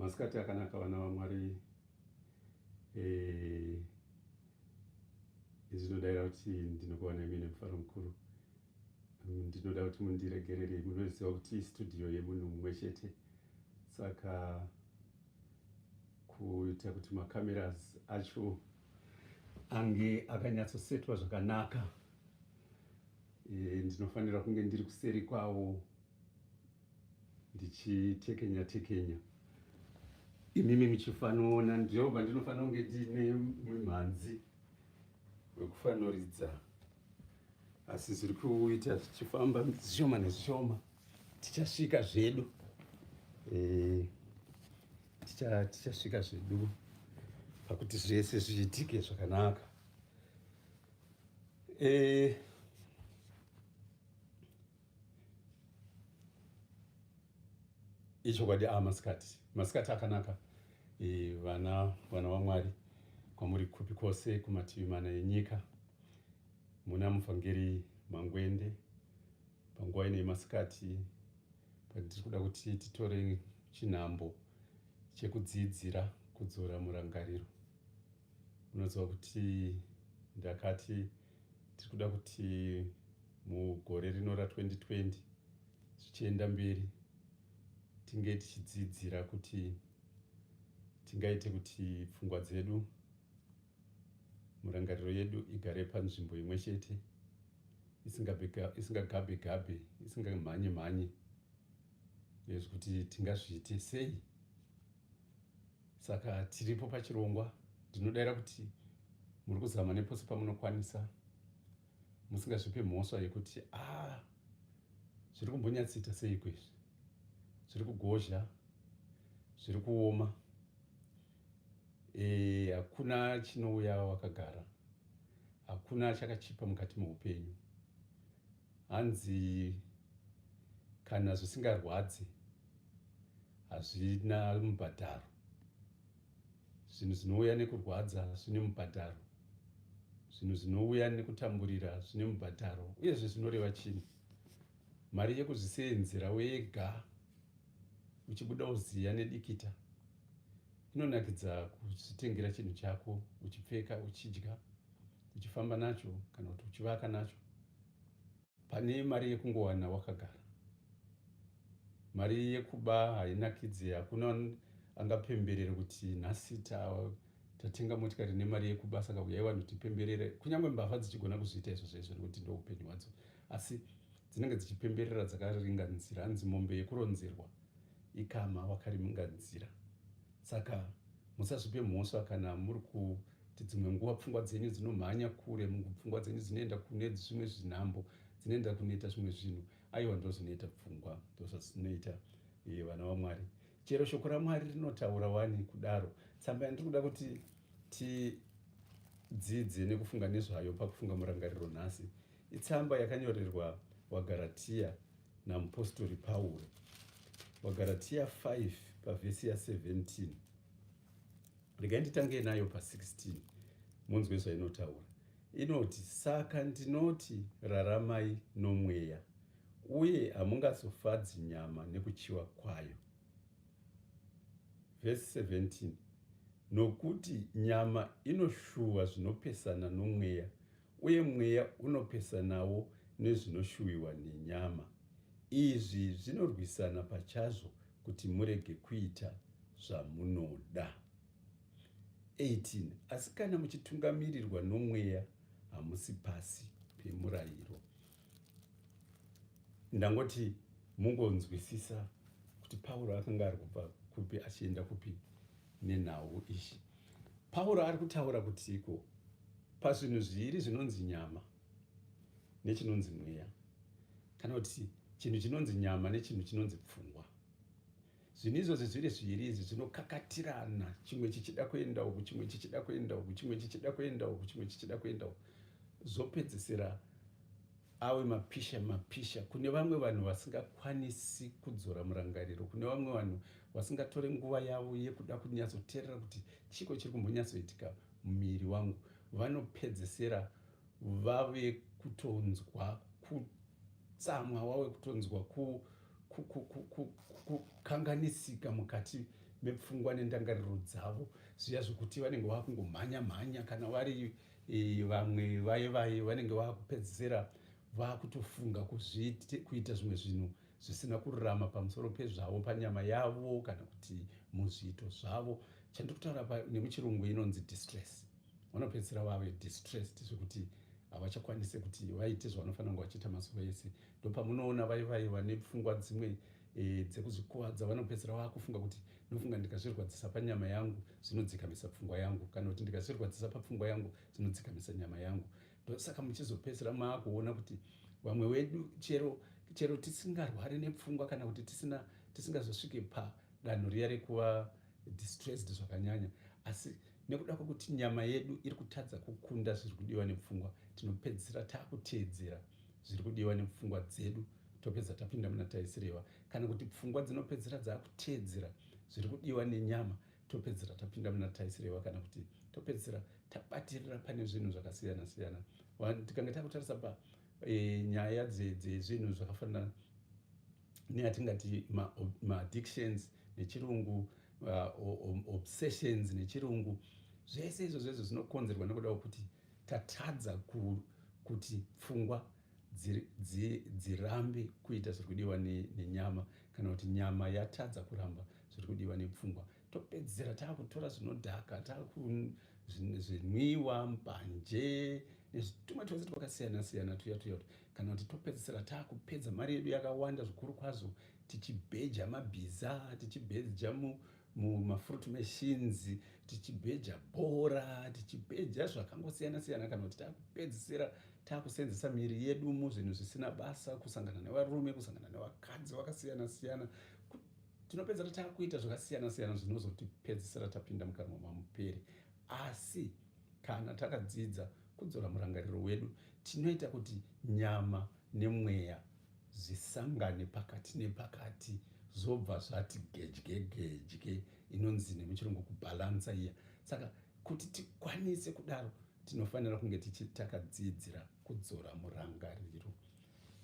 masikati akanaka vana vamwari eh, izvi zvinodaira kuti ndinokuwana imene mufaro mukuru mm, ndinoda kuti mundiregerere munoziva kuti studio yemunhu mumwe chete saka kuita kuti macameras acho ange akanyatsosetwa zvakanaka eh, ndinofanira kunge ndiri kuseri kwawo ndichitekenya tekenya imimi muchifanoona ndiyo pandinofanira kunge ndiine mumhanzi wekufanoridza asi zviri kuita zvichifamba zvishoma nezvishoma tichasvika zvedu eh, tichasvika zvedu pakuti zvese zviitike zvakanaka eh, ichokwadi a masikati masikati akanaka e, vana vana vamwari kwamuri kupi kwose kumativi mana enyika muna muvhangeri mangwende panguva ino yemasikati patiri kuda kuti titore chinhambo chekudziidzira kudzora murangariro unoziva kuti ndakati tiri kuda kuti mugore rino ra2020 zvichienda mberi tinge tichidzidzira kuti tingaite kuti pfungwa dzedu murangariro yedu igare panzvimbo imwe chete isingagabe gabe isingamhanye mhanye nezvekuti tingazviite sei Saka tiripo pachirongwa, ndinodaira kuti muri kuzama nepose pamunokwanisa musingazvipe mhosva yekuti ah, zviri kumbonyatsoita seiko izvi, zviri kugozha, zviri kuoma, eh, hakuna e, chinouya wakagara, hakuna chakachipa mukati meupenyu. Hanzi kana zvisingarwadzi hazvina mubhadharo zvinhu zvinouya nekurwadza zvine mubhadharo zvinhu zvinouya nekutamburira zvine mubhadharo uyezve zvinoreva chii mari yekuzviseenzera wega uchibuda uziya nedikita inonakidza kuzvitengera chinhu chako uchipfeka uchidya uchifamba nacho kana kuti uchivaka nacho Pane mari yekungowana wakagara. Mari yekuba hainakidze hakuna angapemberere kuti nhasi tatenga motikari nemari yekuba saka uyai vanhu tipemberere kunyange mbavha dzichigona kuzviita izvo zvaizvo nekuti ndo upenyu hwadzo asi dzinenge dzichipemberera dzakaringa nzira hanzi mombe yekuronzerwa ikama wakarimunga nzira Saka musazvipe mhosva kana muri kuti dzimwe nguva pfungwa dzenyu dzinomhanya kure, pfungwa dzenyu dzinoenda kune zvimwe zvinhambo, dzinoenda kunoita zvimwe zvinhu. Aiwa, ndozvinoita pfungwa, ndozvazvinoita eh, vana vaMwari. Chero shoko raMwari rinotaura wani kudaro. Tsamba yandiri kuda kuti tidzidze nekufunga nezvayo pakufunga murangariro nhasi itsamba yakanyorerwa waGaratia namupostori Pauro. VaGaratia 5 pavhesi ya17 regai nditange nayo pa16 munzwe zvainotaura inoti saka ndinoti raramai nomweya uye hamungazofadzi nyama nekuchiwa kwayo vhesi 17 nokuti nyama inoshuva zvinopesana nomweya uye mweya unopesanawo nezvinoshuwiwa nenyama. Izvi zvinorwisana pachazvo kuti murege kuita zvamunoda. 18 asi kana muchitungamirirwa nomweya hamusi pasi pemurayiro. Ndangoti mungonzwisisa kuti Pauro akanga ari kubva kupi achienda kupi nenhau iyi. Pauro ari kutaura kutiko pazvinhu zviiri zvinonzi nyama nechinonzi mweya, kana kuti chinhu chinonzi nyama nechinhu chinonzi pfungwa. Zvinhu izvozvi zviri zviiri izvi zvinokakatirana, chimwe chichida kuenda uku, chimwe chichida kuenda uku, chimwe chichida kuenda uku, chimwe chichida kuenda uku, zvopedzisira awe mapisha mapisha kune vamwe vanhu vasingakwanisi kudzora murangariro kune vamwe vanhu vasingatore nguva yavo yekuda kunyatsoteerera kuti chiko chiri kumbonyatsoitika mumiri wangu vanopedzesera vave kutonzwa kutsamwa wave kutonzwa kukanganisika mukati mepfungwa nendangariro dzavo zviya zvekuti vanenge vakungomhanya mhanya kana vari vamwe vaye vaye vanenge vakupedzisira vakutofunga kuita zvimwe zvinhu zvisina kururama pamusoro pezvavo panyama yavo kana kuti muzviito zvavo chandiri kutaura pa nemuchirungu inonzi distress vanopedzisira vave distressed zvekuti havachakwanise kuti vaite zvavanofanira kunge vachiita mazuva ese ndopamunoona vai vai vane pfungwa dzimwe e, dzekuzvikuvadza vanopedzisira vakufunga kuti ndinofunga ndikazvirwadzisa panyama yangu zvinodzikamisa pfungwa yangu kana kuti ndikazvirwadzisa papfungwa yangu zvinodzikamisa nyama yangu ndosaka muchizopedzisira maakuona kuti vamwe wedu chero chero tisingarwari nepfungwa kana kuti tisina tisingazosvike padanho riya rekuva distressed zvakanyanya asi nekuda kwekuti nyama yedu iri kutadza kukunda zviri kudiwa nepfungwa tinopedzisira taakuteedzera zviri kudiwa nepfungwa dzedu topedza tapinda muna taisireva kana kuti pfungwa dzinopedzisira dzakuteedzera zviri kudiwa nenyama topedzisira tapinda muna taisirewa kana kuti topedzisira tabatirira pane zvinhu zvakasiyana siyana tikange takutarisa pa e, nyaya dzezvinhu zvakafanana neatingati maaddictions ma nechirungu uh, obsessions nechirungu zvese izvo zvezvo zvinokonzerwa nekuda kwekuti tatadza ku, kuti pfungwa dzirambe dzi, dzi kuita zviri kudiwa nenyama ne kana kuti nyama yatadza kuramba zviri kudiwa nepfungwa topedzisira taakutora zvinodhaka taakuzvinwiwa mbanje nezvitumwe twese twakasiyana siyana tuya tuya kana kuti topedzisira taakupedza mari yedu yakawanda zvikuru kwazvo tichibheja mabhiza tichibheja mumafruit machines tichibheja bhora tichibheja zvakangosiyana siyana kana kuti takupedzisira takusenzesa miri yedu muzvinhu zvisina basa kusangana nevarume kusangana nevakadzi vakasiyana siyana tinopedzera takuita zvakasiyana siyana zvinozotipedzisira tapinda mukanwa mamuperi asi kana takadzidza kudzora murangariro wedu tinoita kuti nyama nemweya zvisangane pakati nepakati zvobva zvati gedye gedye inonzi nemuchirungu kubhalansa iya saka kuti tikwanise kudaro tinofanira kunge tichitakadzidzira kudzora murangariro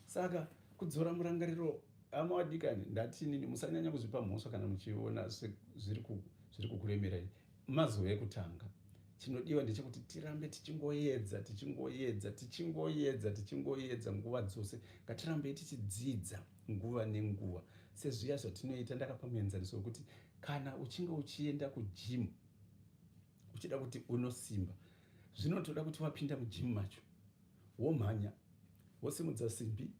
saka kudzora murangariro hama wadikani ndati inini musanyanya kuzvipa mhosva kana muchiona zviri kukuremerai Mazuva ekutanga chinodiwa ndechekuti tirambe tichingoyedza tichingoyedza tichingoyedza tichingoyedza nguva dzose ngatirambei tichidzidza nguva nenguva sezviya zvatinoita ndakapa muenzaniso wekuti kana uchinge uchienda kujimu uchida kuti unosimba zvinotoda kuti wapinda mujimu macho womhanya wosimudza simbi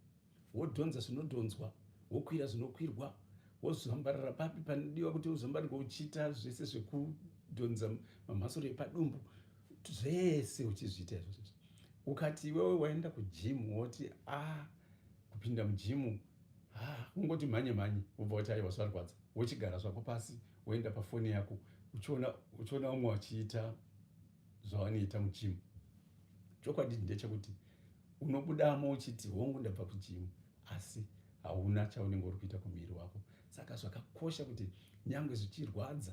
wodhonza zvinodhonzwa wokwira zvinokwirwa wozvambarira papi panodiwa kuti uzvambarirwa uchiita zvese zvekudhonza mamhasuro epadumbu zvese uchizviita izvozvo ukati iwewe waenda kujimu woti a ah, kupinda mujimu ah, ungoti mhanye mhanye wobva wati aiwa zvarwadza wochigara zvako pasi woenda pafoni yako uchiona umwe wachiita zvawanoita muchimu chokwadi ndechekuti unobudamo uchiti hongu ndabva kuchimu asi hauna chaunenge uri kuita kumuviri wako saka zvakakosha kuti nyange zvichirwadza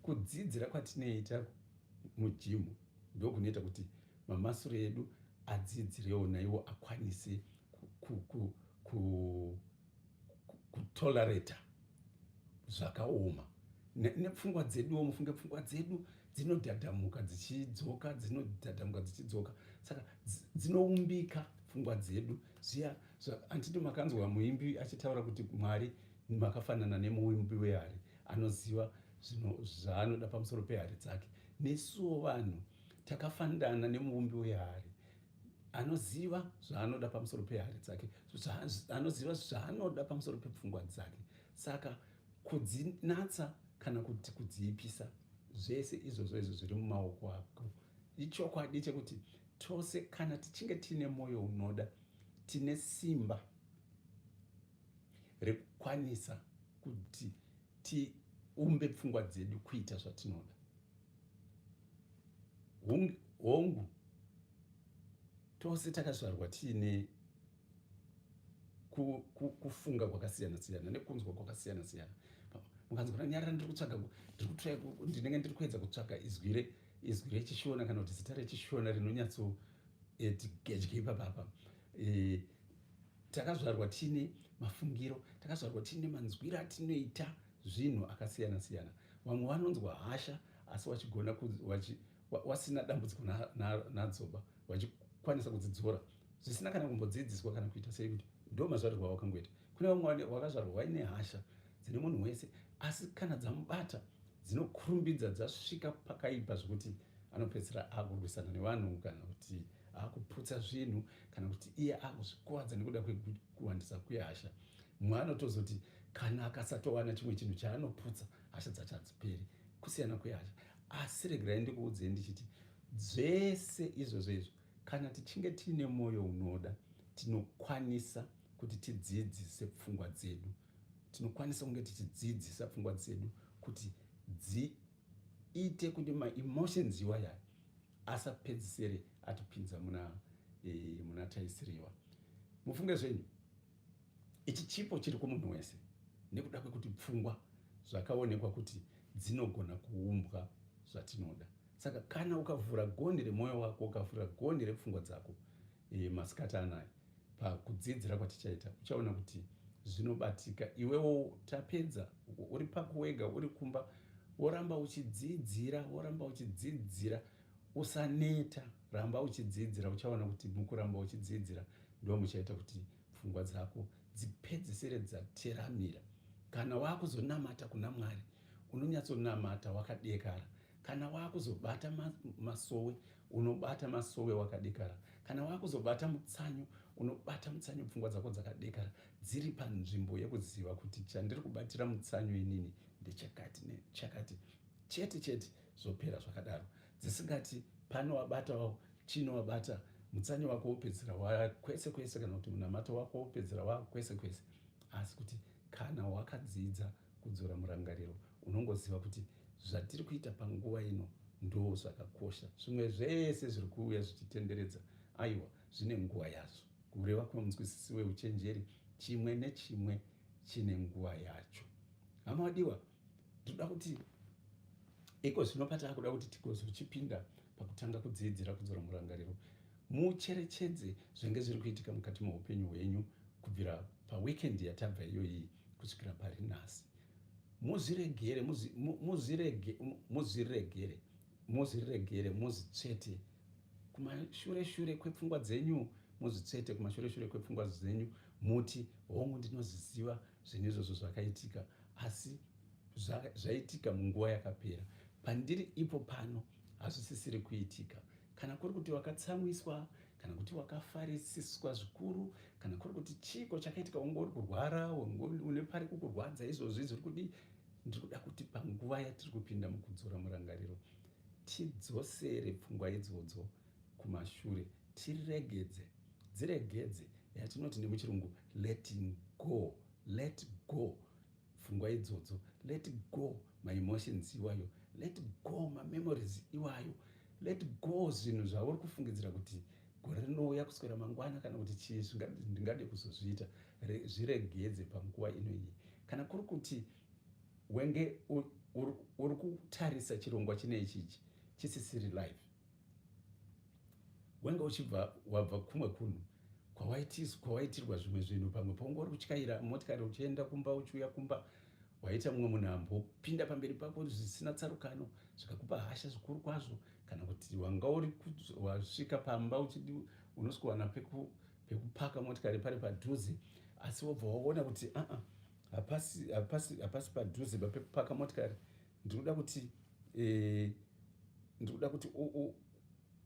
kudzidzira kwatinoita mujimu ndokunoita kuti mamasure edu adzidzirewo naiwo akwanise ku, ku, ku, ku kutolerata zvakaoma nepfungwa dzeduwo mufunge pfungwa dzedu dzinodhadhamuka dzichidzoka dzinodhadhamuka dzichidzoka saka dzinoumbika pfungwa dzedu zviya anditi makanzwa muimbi achitaura kuti mwari makafanana nemuimbi wehari anoziva zvaanoda pamusoro pehari dzake nesuwo vanhu takafanirana nemuumbi wehari anoziva zvaanoda pamusoro pehari dzake anoziva zvaanoda pamusoro pepfungwa dzake saka kudzinatsa kana kuti kudziipisa zvese izvozvo izvo zviri mumaoko ako ichokwadi chekuti tose kana tichinge tiine mwoyo unoda tine simba rekukwanisa kuti tiumbe pfungwa dzedu kuita zvatinoda hongu tose takazvarwa tiine kufunga kwakasiyana siyana nekunzwa kwakasiyana siyana mukanzwa kuti nyarara ndiri kutsvaga ndinenge ndiri kuedza kutsvaga izwi re izwi rechishona kana kuti zita rechishona rinonyatso eh, tigadye ipapapa eh, Takazvarwa tiine mafungiro, takazvarwa tiine manzwiro atinoita zvinhu akasiyana siyana. Vamwe vanonzwa hasha asi wachigona wachi, wasina dambudziko nadzoba wachikwanisa kudzidzora zvisina kana kumbodzidziswa kana kuita sei kuti ndo mazvarirwa wakangoita. Kune vamwe wakazvarwa waine hasha dzine munhu wese asi kana dzamubata dzinokurumbidza dzasvika pakaipa zvekuti anopedzisira akurwisana nevanhu kana kuti akuputsa zvinhu kana kuti iye akuzvikwadza nekuda kwekuwandisa kwehasha mumwe anotozoti kana akasatowana chimwe chinhu chaanoputsa hasha dzacho hadziperi kusiyana kwehasha asi regerai ndikuudzei ndichiti zvese izvozvo izvo kana tichinge tiine mwoyo unoda tinokwanisa kuti tidzidzise pfungwa dzedu tinokwanisa kunge tichidzidzisa pfungwa dzedu kuti dziite kuti maemotions iwayayo asapedzisere atipinza muna e, muna taisiriwa mufunge zvenyu ichi chipo chiri kumunhu wese nekuda kwekuti pfungwa zvakaonekwa kuti dzinogona kuumbwa zvatinoda saka kana ukavhura gonhi remwoyo wako ukavhura gonhi repfungwa dzako e, masikati anaya pakudzidzira kwatichaita uchaona kuti zvinobatika iwewo tapedza uri pako wega uri kumba woramba uchidzidzira woramba uchidzidzira usaneta ramba uchidzidzira uchaona kuti mukuramba uchidzidzira ndo muchaita kuti pfungwa dzako dzipedzisire dzateramira kana wakuzonamata kuna mwari unonyatsonamata wakadekara kana wakuzobata masowe unobata masowe wakadekara kana wakuzobata mutsanyo unobata mutsanyo pfungwa dzako dzakadekara dziri panzvimbo yekuziva kuti chandiri kubatira mutsanyo inini ndechakati nechakati chete chete zvopera zvakadaro dzisingati pano wabatawo chino wabata mutsanyo wako wopedzera wakwese kwese kana kuti munamato wako wopedzera wakwese kwese asi kuti kana wakadzidza kudzora murangariro unongoziva kuti zvatiri kuita panguva ino ndoo zvakakosha zvimwe zvese zviri kuuya zvichitenderedza aiwa zvine nguva yazvo kureva kwemunzwisisi weuchenjeri chimwe nechimwe chine nguva yacho hama wadiwa tinoda kuti iko zvino pataakuda kuti tigozochipinda pakutanga kudziidzira kudzora murangariro mucherechedze zvinge zviri kuitika mukati meupenyu hwenyu kubvira paweekend yatabva iyoyii kusvikira pari nhasi muzviregere muzviregere muzviregere muzvitsvete kumashure shure kwepfungwa dzenyu muzvitsvete kumashure shure kwepfungwa dzenyu muti hongu ndinozviziva zvinhu izvozvo zvakaitika asi zvaitika munguva yakapera pandiri ipo pano hazvisisiri kuitika kana kuri kuti wakatsamwiswa kana kuti wakafarisiswa zvikuru kana kuri kuti chiiko chakaitika wanga uri kurwara une pari kukurwadza izvozvi zviri kudii ndiri kuda kuti panguva yatiri kupinda mukudzora murangariro tidzosere pfungwa idzodzo kumashure tiregedze dziregedze yatinoti nemuchirungu letting go let go pfungwa idzodzo let go my emotions iwayo let go ma memories iwayo let go zvinhu zvauri kufungidzira kuti gore rinouya kuswera mangwana kana kuti chii ndingade kuzozviita zviregedze panguva inoiyi kana kuri kuti wenge uri kutarisa chirongwa chine ichichi chisisiri life wanga uchibva wabva kumwe kunhu kwawaitirwa zvimwe zvinhu pamwe paunga uri kutyaira motikari uchienda kumba uchiuya kumba waita mumwe munhu ambopinda pamberi pako zvisina tsarukano zvikakupa hasha zvikuru kwazvo kana kuti wanga uri wasvika pamba uchidi unosikuwana pekupaka motikari pari padhuze asi wobva waona kuti aa hapasi padhuze papekupaka motikari ndikuda kuti eh, ndikuda kuti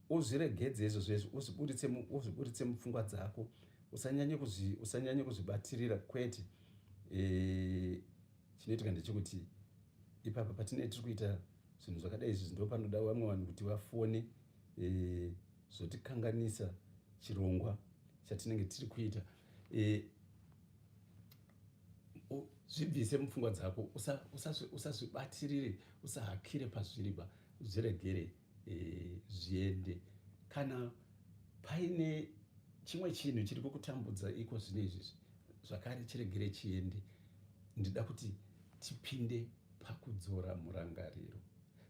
uzviregedze izvo zvezvo uzviburitse mupfungwa dzako usanyanye kuzvibatirira kwete eh, chinoitika ndechekuti ipapa patine tiri kuita zvinhu zvakadai izvi ndo panoda vamwe vanhu kuti vafone eh, zvotikanganisa chirongwa chatinenge tiri kuita eh, zvibvise mupfungwa dzako usazvibatirire usahakire pazviriba zviregere eh, zviende kana paine chimwe chinhu chiri kukutambudza iko zvine izvizvi zvakare chiregere chiende ndida kuti tipinde pakudzora murangariro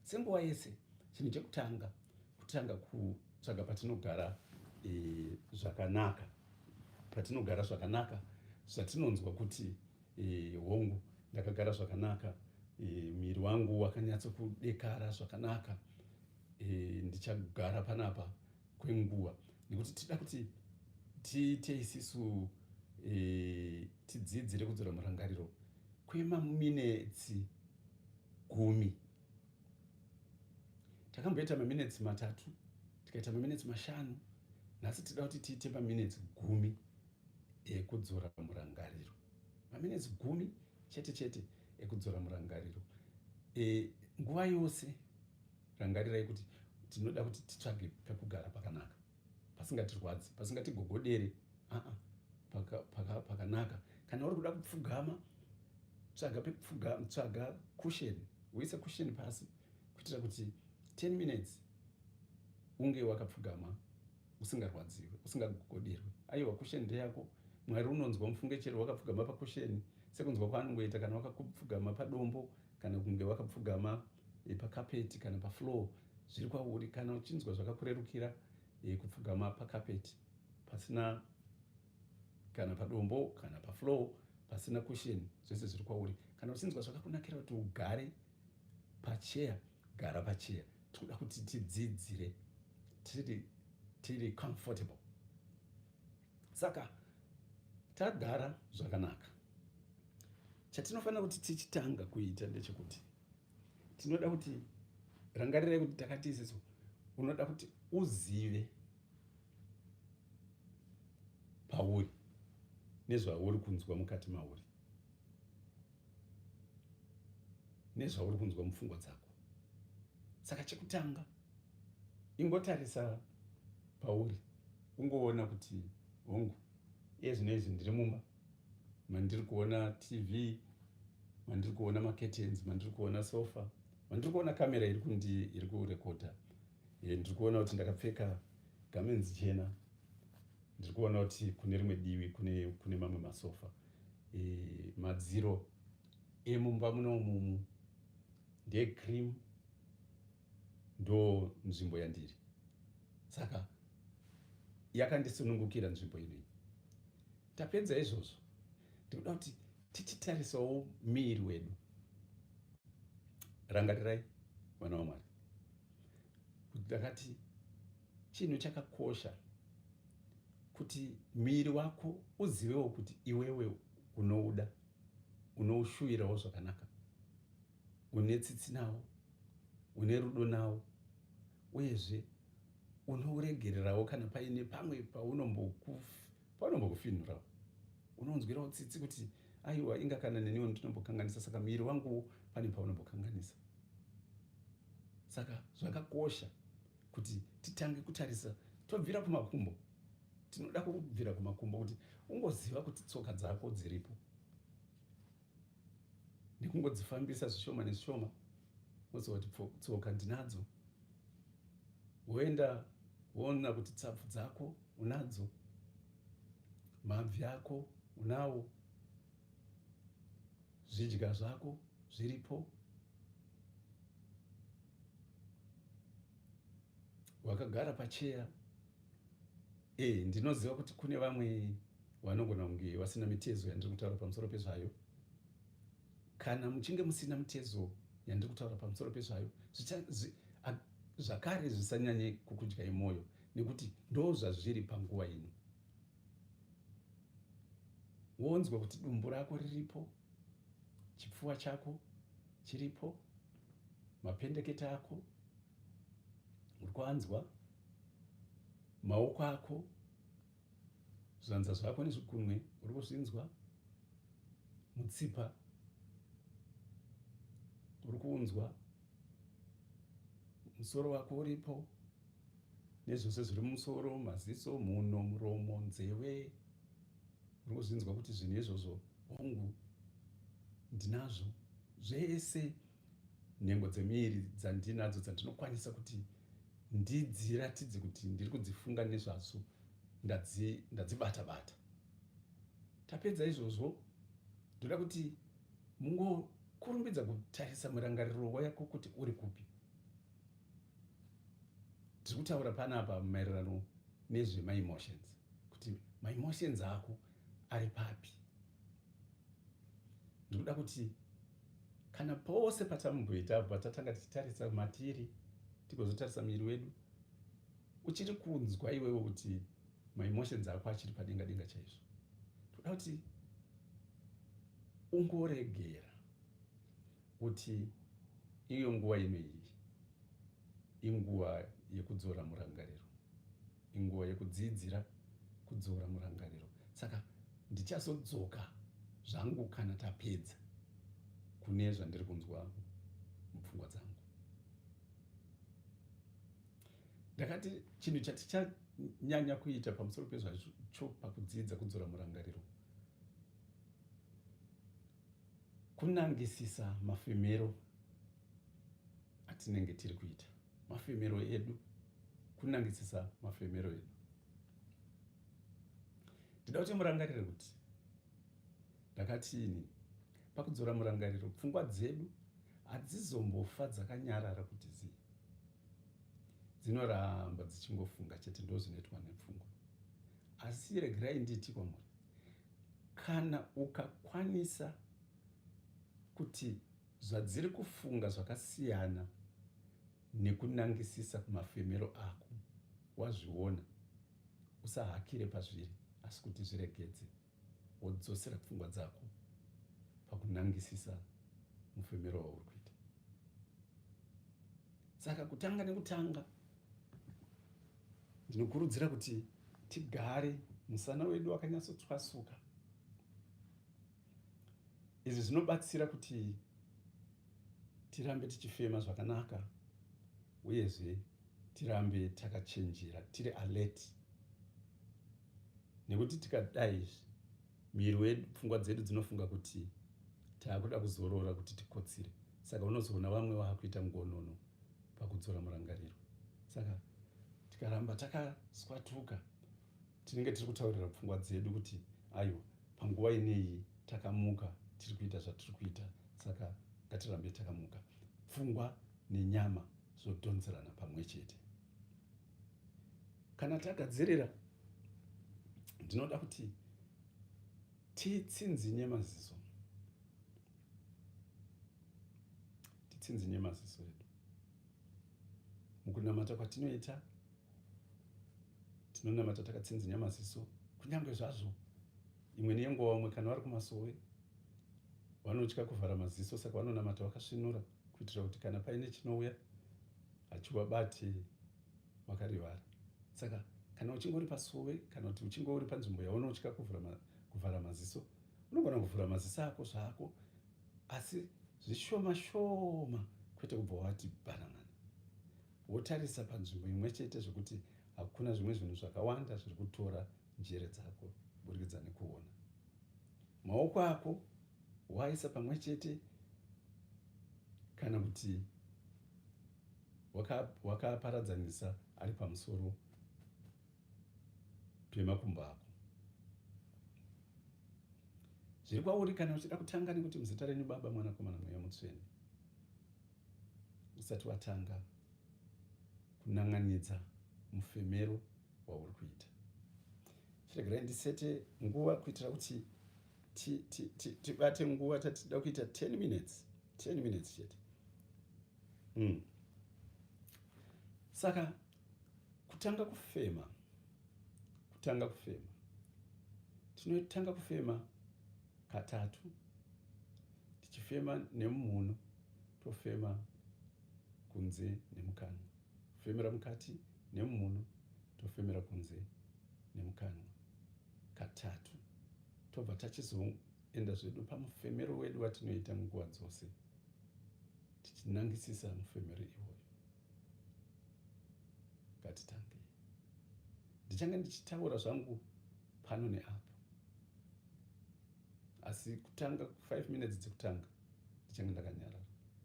senguva yese chinhu chekutanga kutanga kutsvaga patinogara eh, zvakanaka e, patinogara zvakanaka zvatinonzwa kuti e, hongu ndakagara zvakanaka e, miri wangu wakanyatso kudekara zvakanaka e, ndichagara panapa kwenguva nekuti tida kuti tiite isisu e, tidzidzire kudzora murangariro kwemaminetsi gumi takamboita maminutes matatu tikaita maminutes mashanu nhasi tida kuti tiite maminutes gumi ekudzora murangariro maminutes gumi chete chete ekudzora murangariro e, nguva yose rangarirai kuti tinoda kuti titsvage pekugara pakanaka pasingatirwadzi pasingatigogodere aa pakanaka kana uri kuda kupfugama tsvaga pekupfugama tsvaga cushion uise cushion pasi kuitira kuti 10 minutes unge wakapfugama usingarwadziwe usingagogoderwe aiwa cushion ndeyako mwari unonzwa mufunge chero wakapfugama pacushion sekunzwa kwaanongoita kana wakapfugama padombo kana kunge wakapfugama eh, pakapeti kana pafloor zviri kwauri kana uchinzwa zvakakurerukira eh, kupfugama pakapeti pasina kana padombo kana paflow pasina kusheni zvese zviri kwauri kana uchinzwa zvakakunakira kuti ugare pacheya gara pacheya tinoda kuti tidzidzire tiri tiri comfortable saka tagara zvakanaka chatinofanira kuti tichitanga kuita ndechekuti tinoda kuti rangarirai kuti takatiziso unoda kuti uzive pauri nezvauri kunzwa mukati mauri nezvauri kunzwa mupfungwa dzako saka chekutanga ingotarisa pauri ungoona kuti hongu iye zvino izvi ndiri mumba mandiri kuona tv mandiri kuona macurtains mandiri kuona sofa mandiri kuona kamera iri kundi iri kurekodha eh, ndiri kuona kuti ndakapfeka gamenzi chena ndiri kuona kuti kune rimwe divi kune, kune mamwe masofa e, madziro emumba munomumu ndecream ndo nzvimbo yandiri saka yakandisunungukira nzvimbo inoyi tapedza izvozvo ndikuda kuti tichitarisawo miiri wedu rangarirai vana vamwari kuti ndakati chinhu chakakosha kuti miiri wako uzivewo kuti iwewe unouda unoushuvirawo zvakanaka une tsitsi nawo une rudo nawo uyezve unouregererawo kana paine pamwe paunombokufinhurawo unonzwirawo tsitsi kuti aiwa inga kana neniwo ndinombokanganisa saka muviri wanguwo pane paunombokanganisa saka zvakakosha kuti titange kutarisa tobvira kumakumbo tinoda kubvira kumakumbo kuti ungoziva kuti tsoka dzako dziripo nekungodzifambisa zvishoma nezvishoma mozoti tsoka ndinadzo woenda woona kuti tsapfu dzako unadzo mabvi ako unawo zvidya zvako zviripo wakagara pacheya e ndinoziva kuti kune vamwe Vanogona kunge vasina mitezo yandiri kutaura pamusoro pezvayo. Kana muchinge musina mitezo yandiri kutaura pamusoro pezvayo, zvakare zvisanyanye kukudyai mwoyo, nekuti ndo zvazviri panguva ino. Wonzwa kuti dumbu rako riripo, chipfuva chako chiripo, mapendeketa ako uri kwanzwa, maoko ako zvanza zvako nezvikunwe uri kuzvinzwa mutsipa uri kuunzwa musoro wako uripo nezvose zviri mumusoro maziso mhuno muromo nzeve uri kuzvinzwa kuti zvinhu izvozvo hongu ndinazvo zvese nhengo dzemiiri dzandinadzo dzandinokwanisa kuti ndidziratidze kuti ndiri kudzifunga nezvadzo ndadzibata bata tapedza izvozvo ndoda kuti mungokurumbidza kutarisa murangariro wayako kuti uri kupi tiri kutaura panapa maererano nezvemaemotions kuti maemotions ako ari papi ndikuda kuti kana pose patamboita apa tatanga tichitarisa matiri tigozotarisa miri wedu uchiri kunzwa iwewe kuti maemotions ako achiri padenga denga chaizvo toda kuti ungoregera Kuti iyo nguva ino iyi inguva yekudzora murangariro, inguva yekudziidzira kudzora murangariro. Saka ndichazodzoka zvangu kana tapedza kune zvandiri kunzwa mupfungwa dzangu. Ndakati chinhu chatichanyanya kuita pamusoro pezvacho pakudzidza kudzora murangariro kunangisisa mafemero atinenge tiri kuita mafemero edu kunangisisa mafemero edu ndida kuti murangarire kuti ndakatiini pakudzora murangariro pfungwa dzedu hadzizombofa dzakanyarara kuti zii dzinoramba dzichingofunga chete ndozvinoitwa nepfungwa asi regerai nditi kwamuri kana ukakwanisa kuti zvadziri kufunga zvakasiyana nekunangisisa kumafemero ako wazviona usahakire pazviri asi kuti zviregedze wodzosera pfungwa dzako pakunangisisa mufemero wauri kuita saka kutanga nekutanga Ndinokurudzira kuti tigare musana wedu wakanyatsotswasuka. Izvi zvinobatsira kuti tirambe tichifema zvakanaka uyezve tirambe takachenjera tiri alert nekuti tikadai izvi miri wedu pfungwa dzedu dzinofunga kuti taakuda kuzorora kuti tikotsire saka unozoona vamwe vakuita mugonono pakudzora murangariro saka tikaramba takaswatuka tinenge tiri kutaurira pfungwa dzedu kuti aiwa panguva ineyi takamuka tiri kuita zvatiri kuita saka ngatirambe takamuka pfungwa nenyama zvodhonzerana pamwe chete kana tagadzirira ndinoda kuti titsinzinye maziso titsinzinye maziso edu mukunamata kwatinoita tinonamata takatsinzinye maziso kunyange zvazvo imwe nenguva vamwe kana vari kumasowe vanotya kuvhara maziso saka vanonamata vakasvinura kuitira kuti kana paine chinouya hachivabati makarivara saka kana uchinge uri pasuwe kana kuti uchinge uri panzvimbo yaona uchika kuvhara maziso unogona kuvhura maziso ako zvako asi zvishoma shoma kwete kubva wati banamana wotarisa panzvimbo imwe chete zvekuti hakuna zvimwe zvinhu zvakawanda zviri kutora njere dzako burikidza nekuona maoko ako waisa pamwe chete kana kuti wakaparadzanisa waka ari pamusoro pemakumbo ako zviri kwauri kana uchida kutanga nekuti muzita renyu baba mwanakomana mweya mutsvene usati watanga kunan'anidza mufemero wauri kuita chiregerai ndisete nguva kuitira kuti tibate nguva tatida kuita 10 minutes 10 minutes chete mm. saka kutanga kufema kutanga kufema tinotanga kufema katatu tichifema nemumhuno tofema kunze nemukanwa kufemera mukati nemhuno tofemera kunze nemukanwa katatu tobva tachizoenda zvedu pamufemero wedu watinoita nguva dzose tichinangisisa mufemero iwoyo ngatitangei ndichange ndichitaura zvangu pano neapo asi kutanga 5 minutes dzekutanga ndichange ndakanyarara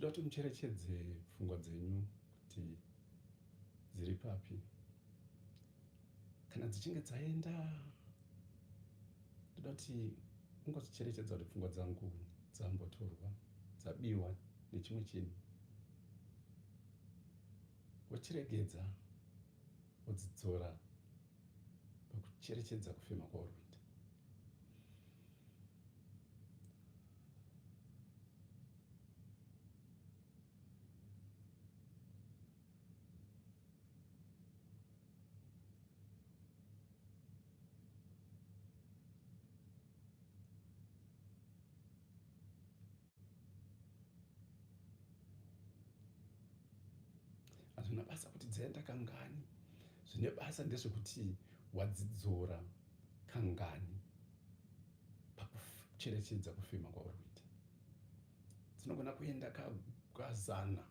tinoda kuti mucherechedze pfungwa dzenyu kuti dziri papi kana dzichinge dzaenda tinoda kuti ungozicherechedza kuti pfungwa dzangu dzambotorwa dzabiwa nechimwe chinhu Wochiregedza wodzidzora pakucherechedza kufema kwauri kuita. hazvina basa kuti dzaenda kangani zvine basa ndezvekuti wadzidzora kangani pakucherechedza kufema kwauri kuita dzinogona kuenda kazana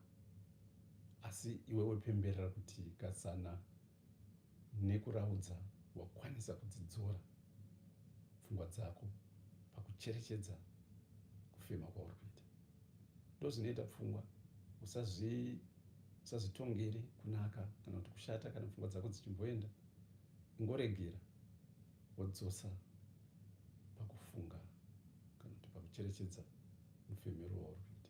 asi iwewe pemberera kuti kazana nekuraudza wakwanisa kudzidzora pfungwa dzako pakucherechedza kufema kwauri kuita ndozvinoita pfungwa usazvitongere kunaka kana kuti kushata kana pfungwa dzako dzichimboenda ingoregera wodzosa pakufunga kana kuti pakucherechedza mufemero wauri kuita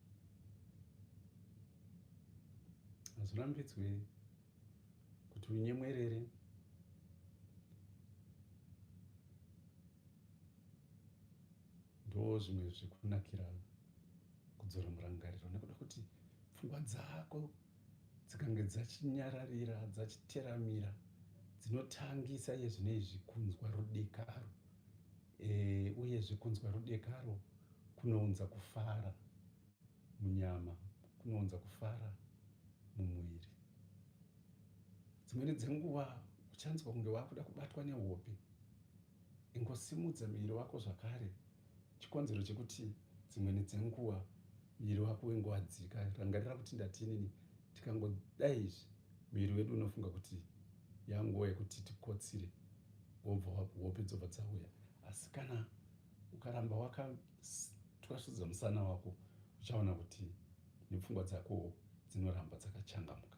hazvirambidzwe kuti unyemwerere ndo zvimwe zvekunakira kudzora murangariro nekuda kuti pfungwa dzako dzikange dzachinyararira dzachiteramira dzinotangisa iye zvine izvi kunzwa rudekaro e, uyezve kunzwa rudekaro kunounza kufara munyama kunounza kufara mumuviri dzimweni dzenguva uchanzwa kunge wakuda kubatwa nehope Ingosimudza muviri wako zvakare. Chikonzero chekuti dzimwe nedzenguva muviri wako wengowadzika, rangarira kuti ndati inini, tikangodai izvi muviri wedu unofunga kuti yanguva yekuti tikotsire, wobva hope dzobva dzauya. Asi kana ukaramba wakatwasudza musana wako, uchaona kuti nepfungwa dzakowo dzinoramba dzakachangamuka.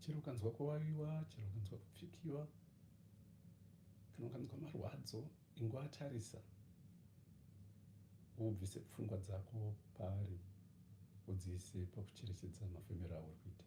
chero ukanzwa kuvaviwa chero ukanzwa kupfikiwa kana ukanzwa marwadzo ingoatarisa wobvise pfungwa dzako paari udziise pakucherechedza mafemero auri kuita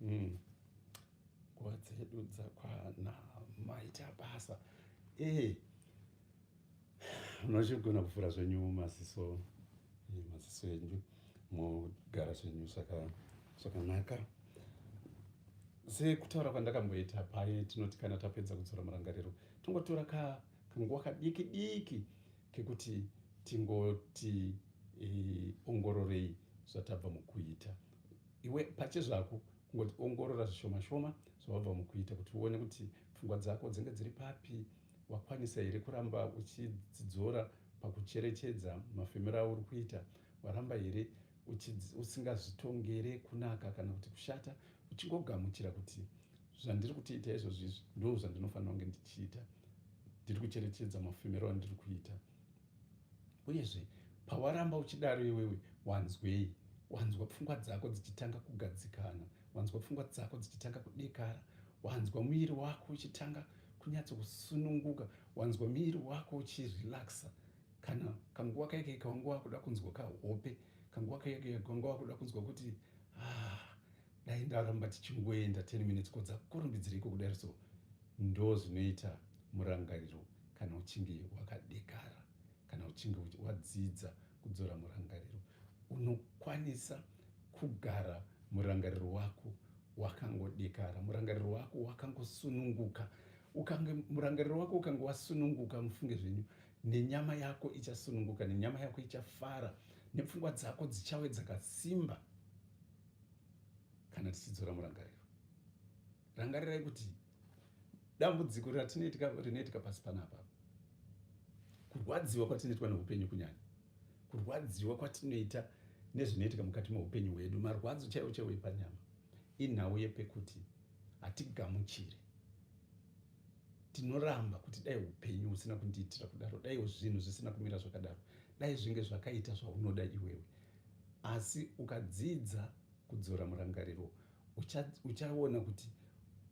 Mm. nguva dzedu dzakwana maita basa e munochigona kuvhura zvenyu maziso eh, maziso enyu mogara zvenyu zvakanaka sekutaura kwandakamboita paye tinoti kana tapedza kudzora murangariro tongotora ka kanguva kadiki diki kekuti tingoti e, ongororei zvatabva mukuita iwe pache zvako kungoti ongorora zvishoma shoma zvawabva mukuita kuti uone kuti pfungwa dzako dzinge dziri papi wakwanisa here kuramba uchidzidzora pakucherechedza mafemero auri kuita waramba here usingazvitongere kunaka kana kuti kushata uchingogamuchira kuti zvandiri kutiita izvozvo izvi ndo zvandinofanira kunge ndichiita ndiri kucherechedza mafemero andiri kuita uyezve pawaramba uchidaro iwewe wanzwei wanzwa pfungwa dzako dzichitanga kugadzikana wanzwa pfungwa dzako dzichitanga kudekara wanzwa muviri wako uchitanga kunyatso kusununguka wanzwa muviri wako uchirelaxa kana kanguva kaike kawanga wakuda kunzwa kahope kanguva kaike kawanga wakuda kunzwa kuti ah, dai ndaramba tichingoenda 10 minutes ko dzakurumbidzireiko kudari so ndo zvinoita murangariro kana uchinge wakadekara kana uchinge wadzidza kudzora murangariro unokwanisa kugara murangariro wako wakangodekara murangariro wako wakangosununguka ukange murangariro wako ukange wasununguka mufunge zvenyu nenyama yako ichasununguka nenyama yako ichafara nepfungwa dzako dzichawe dzakasimba kana tichidzora murangariro rangarirai kuti dambudziko ratinoitika rinoitika pasi panapa kurwadziwa kwatinoitwa neupenyu kunyanya kurwadziwa kwatinoita nezvinoitika mukati meupenyu hwedu marwadzo chaiwo chaiwo epanyama inhau yepekuti hatigamuchire tinoramba kuti dai upenyu husina kundiitira kudaro daiwo zvinhu zvisina kumira zvakadaro dai zvinge zvakaita zvaunoda iwewe Asi ukadzidza kudzora murangariro, uchaona kuti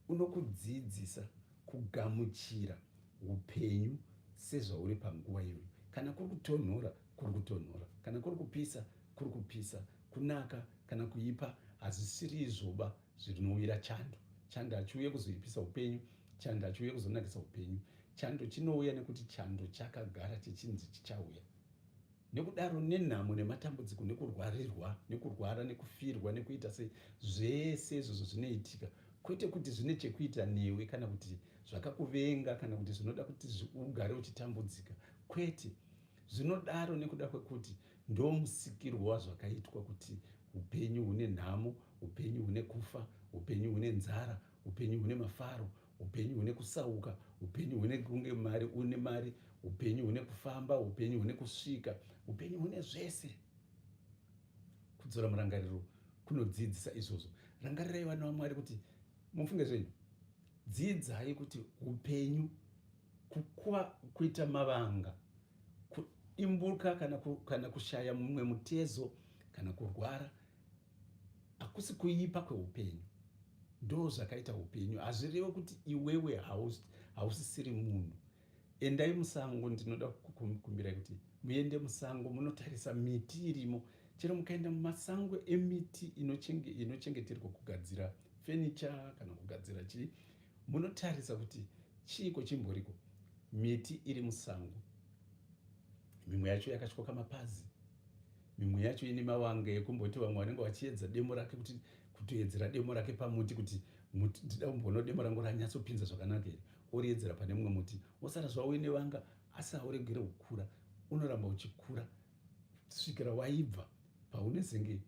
unokudzidzisa kugamuchira upenyu sezvauri panguva iyoyo. Kana kuri kutonhora, kuri kutonhora. Kana kuri kupisa, kuri kupisa. Kunaka kana kuipa hazvisiri izvoba zvinouira chando. Chando hachiuye kuzoipisa upenyu, chando hachiuye kuzonakisa upenyu. Chando chinouya nekuti chando chakagara chichinzi chichauya. Nekudaro nenhamo nematambudziko nekurwarirwa nekurwara nekufirwa nekuita se zvese izvozvo zvinoitika kwete kuti zvine chekuita newe kana kuti zvakakuvenga kana kuti zvinoda kuti ugare uchitambudzika kwete zvinodaro nekuda kwekuti ndomusikirwo wazvakaitwa kuti upenyu hune nhamo upenyu hune kufa upenyu hune nzara upenyu hune mafaro upenyu hune kusauka upenyu hune kunge mari une mari upenyu hune kufamba upenyu hune kusvika upenyu hune zvese kudzora murangariro kunodzidzisa izvozvo rangarirai vana vamwari kuti mufunge zvenyu dzidzai kuti upenyu kukuva kuita mavanga kuimbuka kana, ku, kana kushaya mumwe mutezo kana kurwara hakusi kuipa kweupenyu ndo zvakaita upenyu hazvireve kuti iwewe hausisiri munhu endai musango ndinoda kukumbirai kuti muende musango munotarisa miti irimo chero mukaenda mumasango emiti inochengeterwa kugadzira fenicha kana kugadzira chii munotarisa kuti chiiko chimboriko miti iri musango mimwe yacho yakatyoka mapazi mimwe yacho ine mavanga ekumboti vamwe vanenge vachiedza demo rake kuti kutoedzera demo rake pamuti kuti muti ndida kumboona demo rangu ranyatsopinza zvakanaka here oriedzera pane mumwe muti wosara zvavo uine vanga asi hauregere kukura unoramba uchikura svikira waibva paunezenge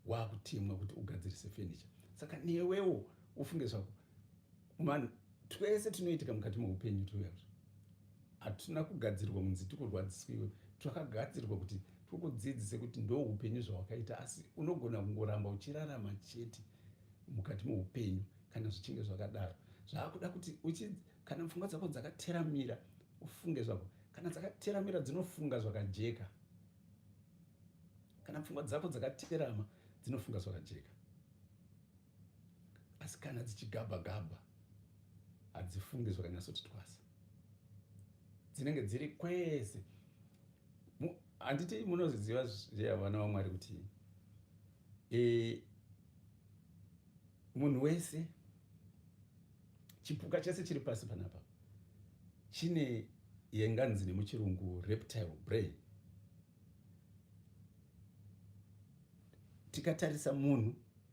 wakutemwa kuti ugadzirise fenicha saka newewo ufunge zvako Vanhu twese tunoitika mukati meupenyu tuyazo hatina kugadzirwa munzi tikurwadziswiwe twakagadzirwa kuti tikudzidzise kuti ndo upenyu zvawakaita asi unogona kungoramba uchirarama chete mukati meupenyu kana zvichinge zvakadaro zvaakuda kuti kana pfungwa dzako dzakateramira ufunge zvako kana dzakateramira dzinofunga zvakajeka kana pfungwa dzako dzakaterama dzinofunga zvakajeka asi kana dzichigabha gabha hadzifungi zvakanyatsoti twasa dzinenge dziri kwese handiti munozviziva zviya vana vamwari kuti e, munhu wese chipuka chese chiri pasi panapa chine yenganzi nemuchirungu reptile brain tikatarisa munhu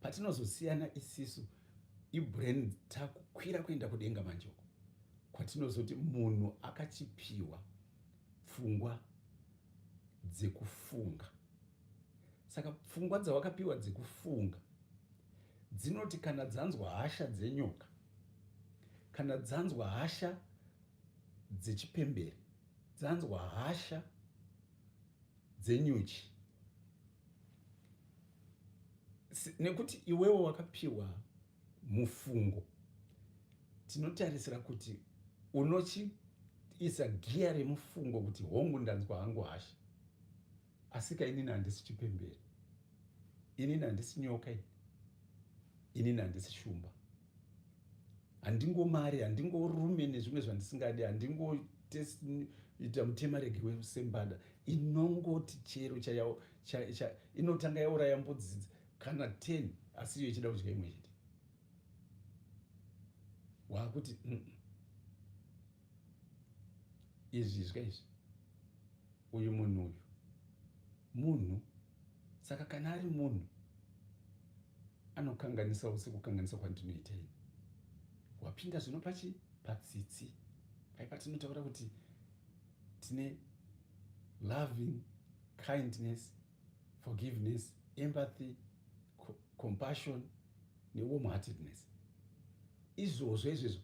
patinozosiyana isisu ibrain takukwira kuenda kudenga manje uko kwatinozoti munhu akachipiwa pfungwa dzekufunga saka pfungwa dzawakapiwa dzekufunga dzinoti kana dzanzwa hasha dzenyoka kana dzanzwa hasha dzechipembere dzanzwa hasha dzenyuchi nekuti iwewo wakapiwa mufungo tinotarisira kuti unochiisa giya remufungo kuti hongu ndanzwa hangu hasha asika inini handisi chipemberi inini handisi nyoka inini handisi shumba handingomari handingorume nezvimwe zvandisingadi handingoita mutemarege wesembada inongoti chero chayawo inotanga yauraya mbudzi kana 10 asi iyo ichida kudya imwe chete waakuti mm -mm. izvizwa izvi uyu munhu uyu munhu saka kana ari munhu anokanganisawo sekukanganisa kwandinoita ini wapinda zvino pachi patsitsi pai patinotaura kuti tine loving kindness forgiveness empathy compassion newarm heartedness izvozvo izvezvo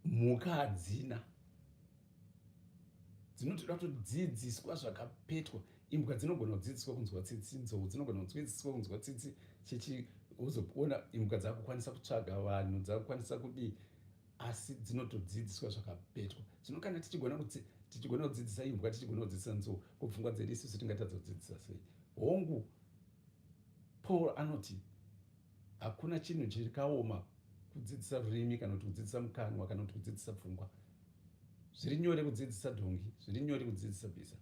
mhuka hadzina dzinotoda kutodzidziswa zvakapetwa imbwa dzinogona kudzidziswa kunzwa tsitsi nzou dzinogona kudzidziswa kunzwa tsitsi chichi uzoona imbwa dzakukwanisa kutsvaga vanhu dzakukwanisa kudii asi dzinotodzidziswa zvakapetwa zvino kana tichigona kuti tichigona kudzidzisa imbwa tichigona kudzidzisa nzou kupfungwa dzedu isusu tingatadza kudzidzisa sei hongu Paul anoti hakuna chinhu chirikaoma kudzidzisa rurimi kana kuti kudzidzisa mukanwa kana kuti kudzidzisa pfungwa zviri nyore kudzidzisa dhongi zviri nyore kudzidzisa bhiza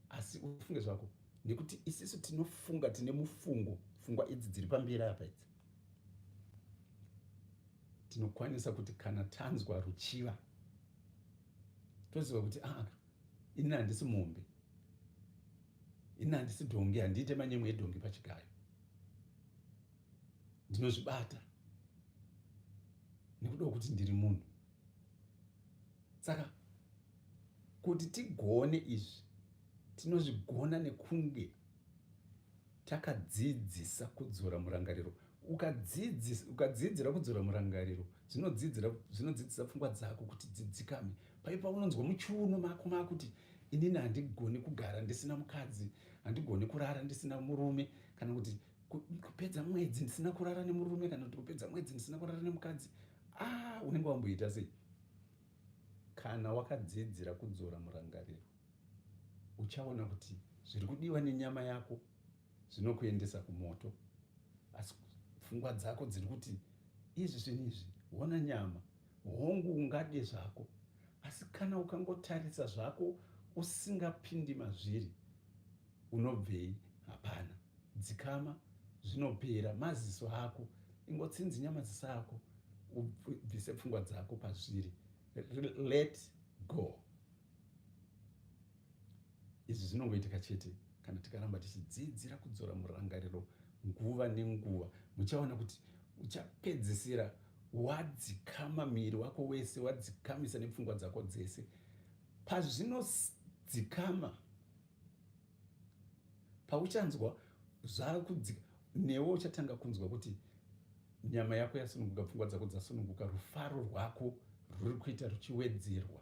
asi ufunge zvako nekuti isisu tinofunga tine mufungo pfungwa idzi dziri pamberi apa idzi tinokwanisa kuti kana tanzwa ruchiva toziva kuti aa ah, ini handisi mombe ini handisi dhongi handiite manyemwe edhongi pachigayo ndinozvibata nekuda kwekuti ndiri munhu saka kuti tigone izvi tinozvigona nekunge takadzidzisa kudzora murangariro ukadzidzira kudzora murangariro zvinodzidzisa pfungwa dzako kuti dzidzikame Pai paunonzwa muchiuno mako makuti inini handigoni kugara ndisina mukadzi, handigoni kurara ndisina murume kana kuti kupedza mwedzi ndisina kurara nemurume kana kuti kupedza mwedzi ndisina kurara nemukadzi, ah unenge wamboita sei? Kana wakadzidzira kudzora murangariro uchaona kuti zviri kudiwa nenyama yako zvinokuendesa kumoto asi pfungwa dzako dziri kuti izvi zvinhu izvi hona nyama Hongu ungade zvako asi kana ukangotarisa zvako usingapindi mazviri unobvei hapana dzikama zvinopera maziso ako ingotsinzinya maziso ako ubvise pfungwa dzako pazviri let go Izvi zvinongoitika chete kana tikaramba tichidzidzira kudzora murangariro nguva nenguva. Muchaona kuti uchapedzisira wadzikama miri wako wese, wadzikamisa nepfungwa dzako dzese. Pazvinodzikama pauchanzwa zvakudzika newe uchatanga kunzwa kuti nyama yako yasununguka pfungwa dzako dzasununguka rufaro rwako ruri kuita ruchiwedzerwa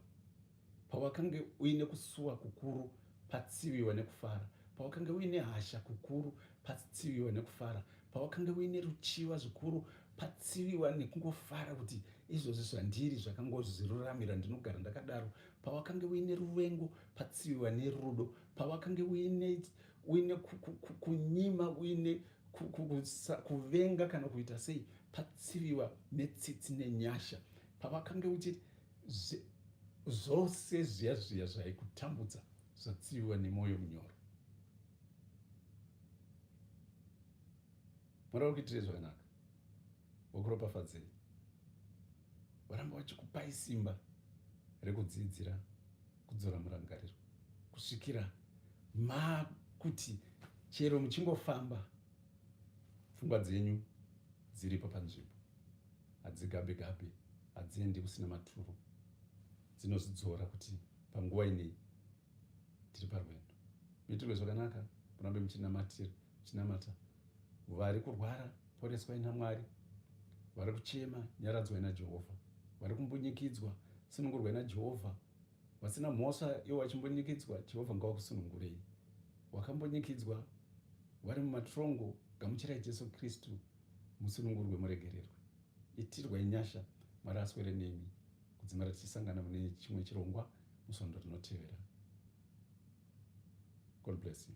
pawakange uine kusuwa kukuru patsiviwa nekufara pawakange uine hasha kukuru patsiviwa nekufara pawakange uine ruchiva zvikuru patsiviwa nekungofara kuti izvozvi zvandiri zvakangoziruramira ndinogara ndakadaro pawakange uine ruvengo patsiviwa nerudo pawakange uine uine kunyima uine kuvenga kana kuita sei patsiviwa netsitsi nenyasha pawakange uchiti zvose zviya zviya zvaikutambudza zvatsiviwa nemwoyo munyoro mwari wakuitire zvakanaka vakuropafadzei varamba vachikupai simba rekudziidzira kudzora murangariro kusvikira makuti chero muchingofamba pfungwa dzenyu dziripo panzvimbo hadzigabe gabe hadziendi kusina maturo dzinozvidzora kuti panguva inei tiri parwendo mitirwe zvakanaka murambe muchinamatira muchinamata Vari kurwara, poreswai naMwari. Vari kuchema, nyaradzwai naJehovha. Vari kumbunyikidzwa, sunungurwai naJehovha. Vasina mhosva ivo vachimbunyikidzwa, Jehovha ngawakusunungurei. Wakambunyikidzwa, vari mumatrongo, gamuchirai Jesu Kristu, musunungurwe, muregererwe. Itirwai nyasha, Mwari aswere nemi. Kudzimara tichisangana mune chimwe chirongwa musondo rinotevera. God bless you.